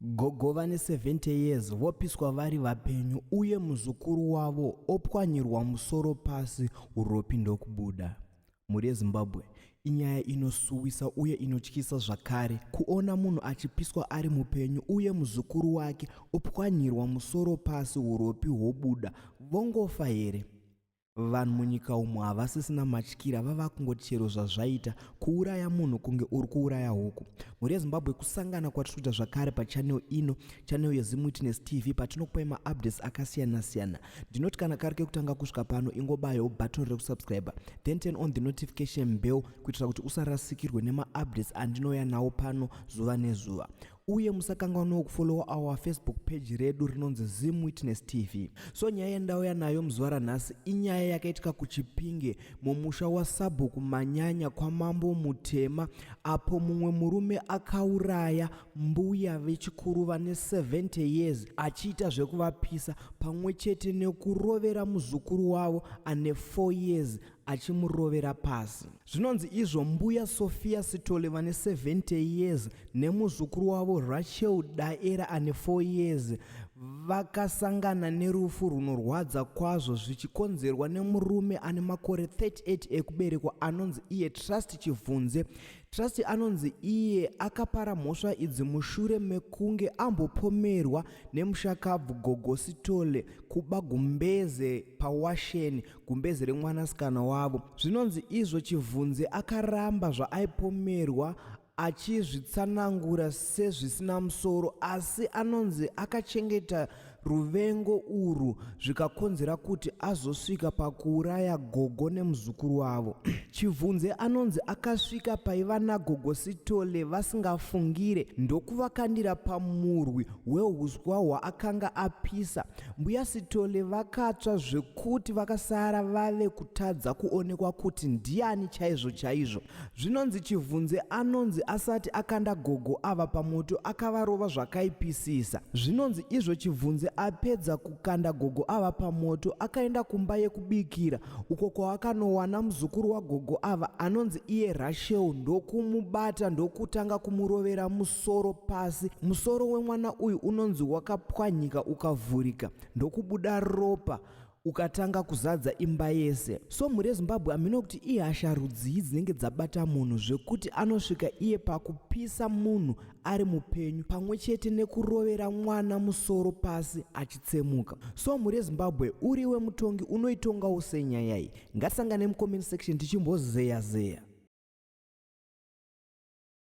Gogo vane 70 years vopiswa vari vapenyu uye muzukuru wavo opwanyirwa musoro pasi uropi ndokubuda. Mhuri yeZimbabwe inyaya inosuwisa uye inotyisa zvakare kuona munhu achipiswa ari mupenyu uye muzukuru wake opwanyirwa musoro pasi uropi hwobuda vongofa here? Vanhu munyika umu havasisina matyira vava kungoti chero zvazvaita kuuraya munhu kunge uri kuuraya huku. Mhuri yeZimbabwe kusangana kwatiri kuita zvakare pachanel ino, chanel yeZimwitness TV patinokupai maupdates akasiyana siyana. Ndinoti kana kari kekutanga kusvika pano ingobayawo button rekusubscriber then turn on the notification bell kuitira kuti usarasikirwe nemaupdates andinouya nawo pano zuva nezuva. uye musakanganwawo kufollowa our facebook page redu rinonzi zim witness tv so nyaya yandauya nayo muzuva ranhasi inyaya yakaitika kuchipinge mumusha wasabhuku manyanya kwamambo mutema apo mumwe murume akauraya mbuya vechikuru vane 70 years achiita zvekuvapisa pamwe chete nekurovera muzukuru wavo ane 4 years achimurovera pasi. Zvinonzi izvo mbuya Sophia Sithole vane 70 years nemuzukuru wavo Rachel Daera ane 4 years vakasangana nerufu rwunorwadza kwazvo zvichikonzerwa nemurume ane makore 38 ekuberekwa anonzi iye Trust Chivhunze. Trust anonzi iye akapara mhosva idzi mushure mekunge ambopomerwa nemushakabvu Gogo Sithole kuba gumbeze pawasheni gumbeze remwanasikana wavo zvinonzi izvo chivhunzi akaramba zvaaipomerwa achizvitsanangura sezvisina musoro asi anonzi akachengeta ruvengo urwu zvikakonzera kuti azosvika pakuuraya gogo nemuzukuru wavo chivhunze anonzi akasvika paiva nagogo sitole vasingafungire ndokuvakandira pamurwi weuswa hwaakanga apisa Mbuya Sithole vakatsva zvekuti vakasara vave kutadza kuonekwa kuti ndiani chaizvo chaizvo. Zvinonzi Chivhunze anonzi asati akanda gogo ava pamoto akavarova zvakaipisisa. Zvinonzi izvo Chivhunze apedza kukanda gogo ava pamoto akaenda kumba yekubikira uko kwaakanowana muzukuru wagogo ava anonzi iye Rashel ndokumubata ndokutanga kumurovera musoro musoro pasi. Musoro wemwana uyu unonzi wakapwanyika ukavhurika ndokubuda ropa ukatanga kuzadza imba yese. So mhuri yeZimbabwe hamino kuti ihasha rudzii dzinenge dzabata munhu zvekuti anosvika iye pakupisa munhu ari mupenyu pamwe chete nekurovera mwana musoro pasi achitsemuka. So mhuri yeZimbabwe uriwe mutongi unoitongawo sei nyaya iyi? Ngatisangane mucomment section tichimbozeya zeya.